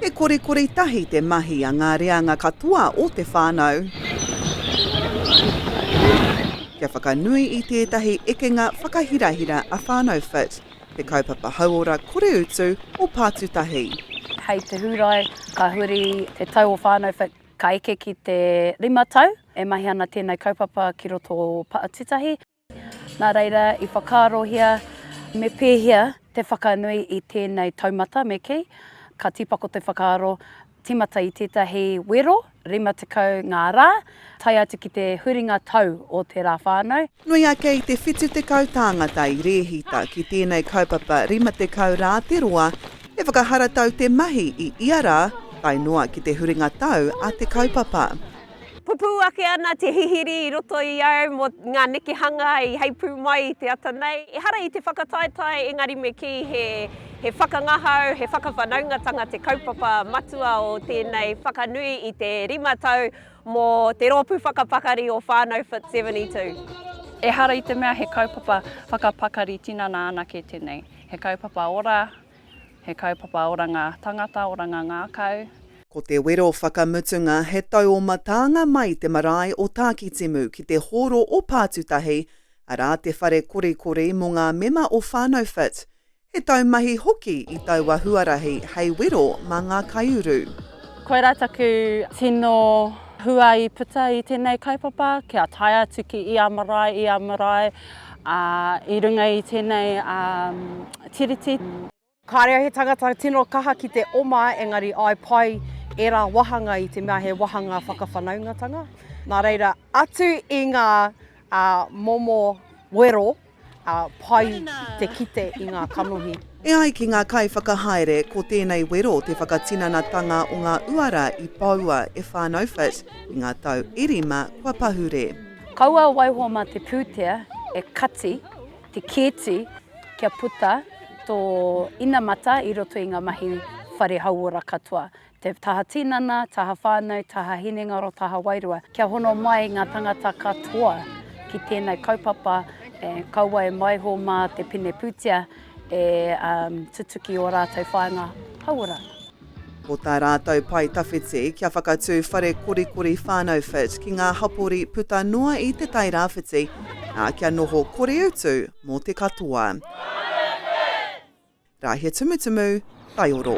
He korikori tahi te mahi a ngā reanga katoa o te whānau kia whakanui i tētahi ekenga whakahirahira a Whānau Fit, te kaupapa hauora koreutu o Pātutahi. Hei te Hūrae, ka huri te tau o Whānau Fit ka eke ki te rima tau e mahi ana tēnei kaupapa ki roto o Pātutahi. Nā reira, i whakaarohia me pēhea te whakanui i tēnei taumata me kī, ka tīpako te whakaaro tīmata i tētahi wero 50 ngā rā, tae atu ki te huringa tau o te rā whānau. Nui ake i te 70 tāngata i rēhita ki tēnei kaupapa 50 rā te roa, he whakaharatau te mahi i ia rā tae noa ki te huringa tau a te kaupapa. Pupū ake ana te hihiri i roto i au mō ngā nekehanga i heipū mai i te ata nei. Ehara i te whakataetae engari me kī he whakangahau, he whakawhanaungatanga te kaupapa matua o tēnei whakanui i te rima tau mō Te Rōpū Whakapakari o Whānau Fit 72. Ehara i te mea he kaupapa whakapakari tinana anake tēnei, he kaupapa ora, He kaupapa oranga tangata, oranga ngākau. Ko te wero whakamutunga he tau o Mataanga mai te marae o Tākitimu ki te hōro o Pātutahi, arā te whare korikori mō ngā mema o Whānau Fit. He taumahi hoki i taua huarahi hei wero mā ngā kaiuru. Koirā taku tino hua i puta i tēnei kaupapa, kia tae atu ki ia marae, ia marae, Ā, i runga i tēnei Tiriti. Kāre au he tangata tino kaha ki te oma engari i pai ērā wāhanga i te mea he wāhanga whakawhanaungatanga. Nā reira, atu i ngā momo wero, pai te kite i ngā kanohi. E ai ki ngā kaiwhakahaere, ko tēnei wero te whakatinanatanga o ngā uara i poua e whānau Fitz i ngā tau e rima kua pahure. Kaua waiho mā te pūtea e kati te kēti kia puta tō inamata i roto i ngā mahi whare hauora katoa, te taha tinana, taha whānau, taha hinengaro, taha wairua. Kia hono mai ngā tangata katoa ki tēnei kaupapa, kaua e waiho mā te pine pūtea e tutuki ō rātou whāinga hauora. Ko tā rātou pae tawhiti, kia whakatū whare korikori whānau fit ki ngā hapori puta noa i Te Tai Rāwhiti, ā, kia noho koreutu mō te katoa. Rāhia Tumutumu, Taioro.